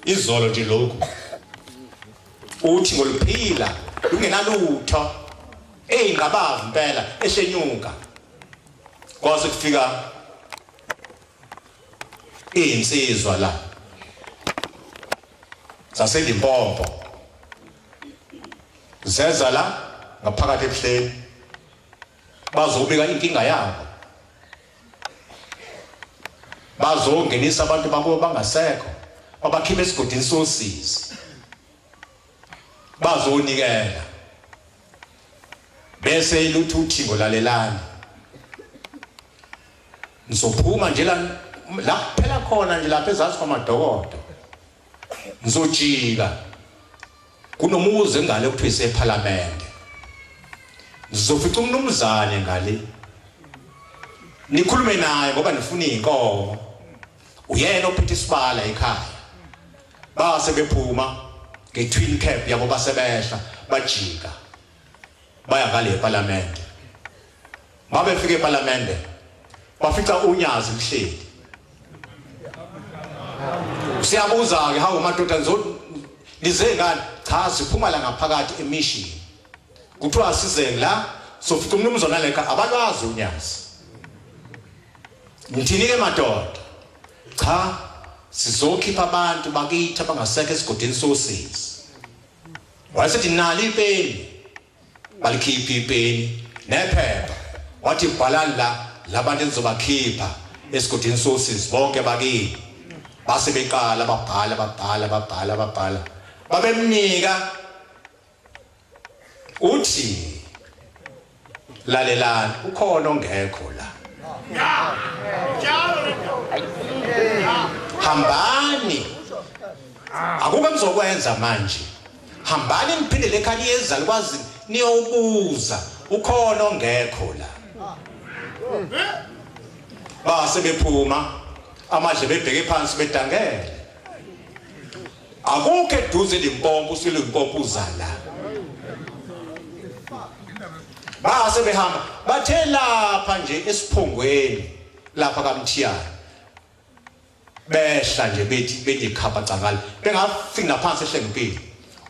izolo nje lokhu uthi ngoluphila lungenalutho eyinqabavu impela eshenyuka kwaze kufika izinsizwa la zaseLimpopo zeza la ngaphakathi ebuhleni bazobika inkinga yabo bazongenisa abantu bakubo bangasekho babakhipha esigodini sosizi bazonikela bese iluthi uthi ngolalelani ngizophuma nje la la kuphela khona nje lapha ezazi kwamadokodo ngizojika kunomuzi ngale kuthiwa isephalamende ngizofica umnumzane ngale nikhulume naye ngoba nifuna iy'nkomo uyena ophethe isibala ekhaya base bephuma nge-twin cap yabo basebehla bajika baya ngale eParliament mabefike eParliament bafica unyazi kuhleli siyabuza ke hawu madoda nizodwa lize ngani cha siphuma la ngaphakathi emishini kuthiwa asizeni la sofica umnumzana lekha abalwazi unyazi ngithini ke madoda cha sizokhipha abantu bakithi abangasekho esigodini sosizi Wasethi nali ipeni. Balikhipha ipeni nephepha. Wathi bhalani la labantu enizobakhipha esigodini sosis bonke bakini. Base beqala babhala babhala babhala babhala. Babemnika uthi lalelani ukhona ongekho la hambani akukho nizokwenza manje hambani niphinde lekhaya liyeza likwazi niyobuza ukhona ongekho la base bephuma amadle bebheke phansi bedangele Akukho eduze Limpopo usiLimpopo uzala. Base behamba bathe lapha nje esiphongweni lapha kaMthiyana. Behla nje bethi benye khapha cangala. Bengafika ngaphansi ehlengipini.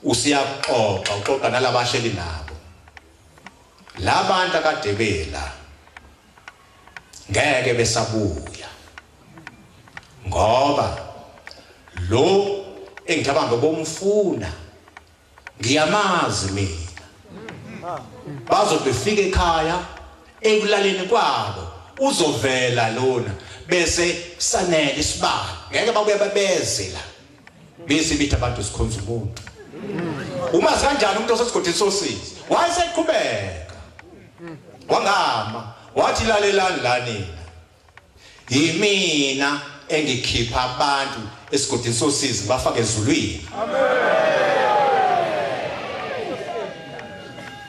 Usiyaxoxa uxoxa nalabahleli nabo. Labantu akadebela ngeke besabuya ngoba lo engicabanga bomfuna ngiyamazi mina bazobefika ekhaya ekulaleni kwabo uzovela lona bese sanele isibani ngeke babuye babeze la Bese bithi abantu sikhonza umuntu. Uma sikanjani umuntu osesigodini sosizi? Wayeseqhubeka. Wangama, wathi lalelani la nina. Yimina engikhipha abantu esigodini sosizi bafake ezulwini. Amen.